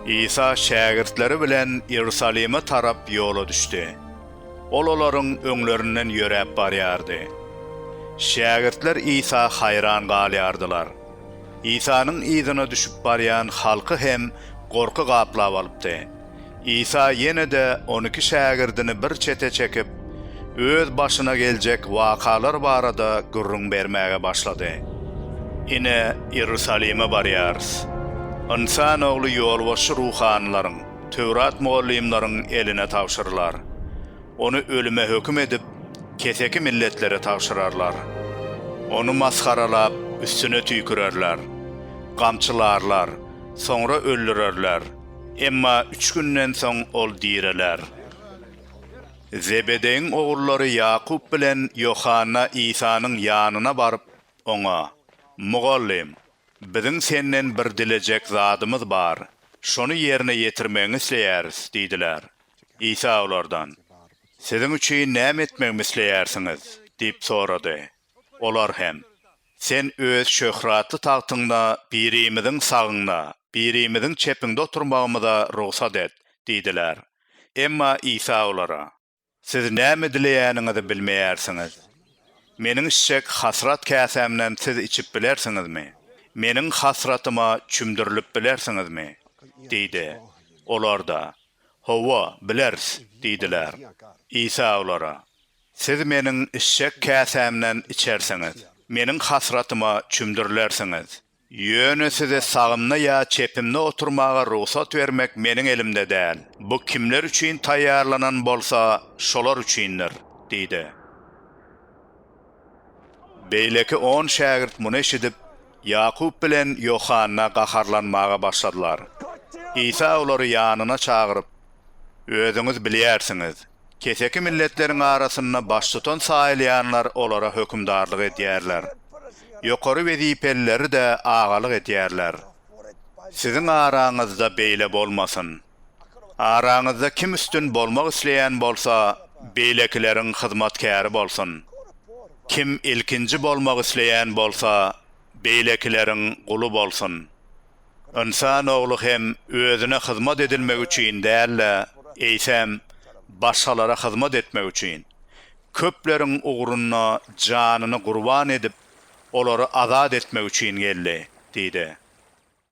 Isa şägirtleri bilen Iýerusalime tarap ýola düşdi. Ol olaryň öňlerinden ýöräp barýardy. Şägirtler Isa haýran galýardylar. Isanyň yzyna düşüp barýan halky hem gorky gaplap alypdy. Isa ýene-de on iki şägirdini bir çete çekip, öz başyna geljek wakalar barada gürrüň bermäge başlady. Ine, Iýerusalime barýarys. Ynsan Ogly ýolbaşçy ruhanylaryň, Töwrat mugallymlaryň eline tabşyrylar. Ony ölüme höküm edip, keseki milletlere tabşyrarlar. Ony masgaralap, üstüne tüýkürerler. Gamçylarlar, soňra öldürerler. Emma üç günden soň ol direler. Zebedeýiň ogullary Ýakup bilen Ýohanna Isanyň ýanyna baryp, oňa, Mugallym, biziň senden bir dilejek zadymyz bar, şony ýerine ýetirmegiňi isleýäris diýdiler. Isa olardan, Siziň üçin näme etmegimi isleýärsiňiz? diýip sorady. Olar hem, Sen öz şöhratly tagtyňda birimiziň sagyňda, birimiziň çepiňde oturmagymyza rugsat et! diýdiler. Emma Isa olara. Siz näme dileýäniňizi bilmeýärsiňiz. Meniň içjek hasrat käsämden siz içip bilersiňizmi? Meniň hasratyma çümdürilip bilersiňizmi? diýdi. Olar-da, Hawa, bileris! diýdiler. Isa olara. Siz Meniň içjek käsämden içersiňiz, Meniň hasratyma çümdürilersiňiz. Ýöne size sagymda ýa çepimde oturmaga rugsat bermek Meniň elimde däl. Bu kimler üçin taýýarlanan bolsa, şolar üçindir diýdi. Beýleki on şägirt muny eşidip, Ýakup bilen Ýohanna gaharlanmaga başladylar. Isa olary ýanyna çagyryp, Özüňiz bilýärsiňiz, Keseki milletleriň arasynda baştutan saýylýanlar olara hökümdarlyk edýärler. Ýokary wezipelileri-de agalyk edýärler. Siziň araňyzda beýle bolmasyn. Araňyzda kim üstün bolmak isleýän bolsa, beýlekileriň hyzmatkäri bolsun. Kim ilkinji bolmak isleýän bolsa, beýlekileriň guly bolsun. Ynsan ogly hem özüne hyzmat edilmek üçin däl-de, eýsem, başgalara hyzmat etmek üçin, köpleriň ugrunda janyny gurban edip, olary azat etmek üçin geldi diýdi.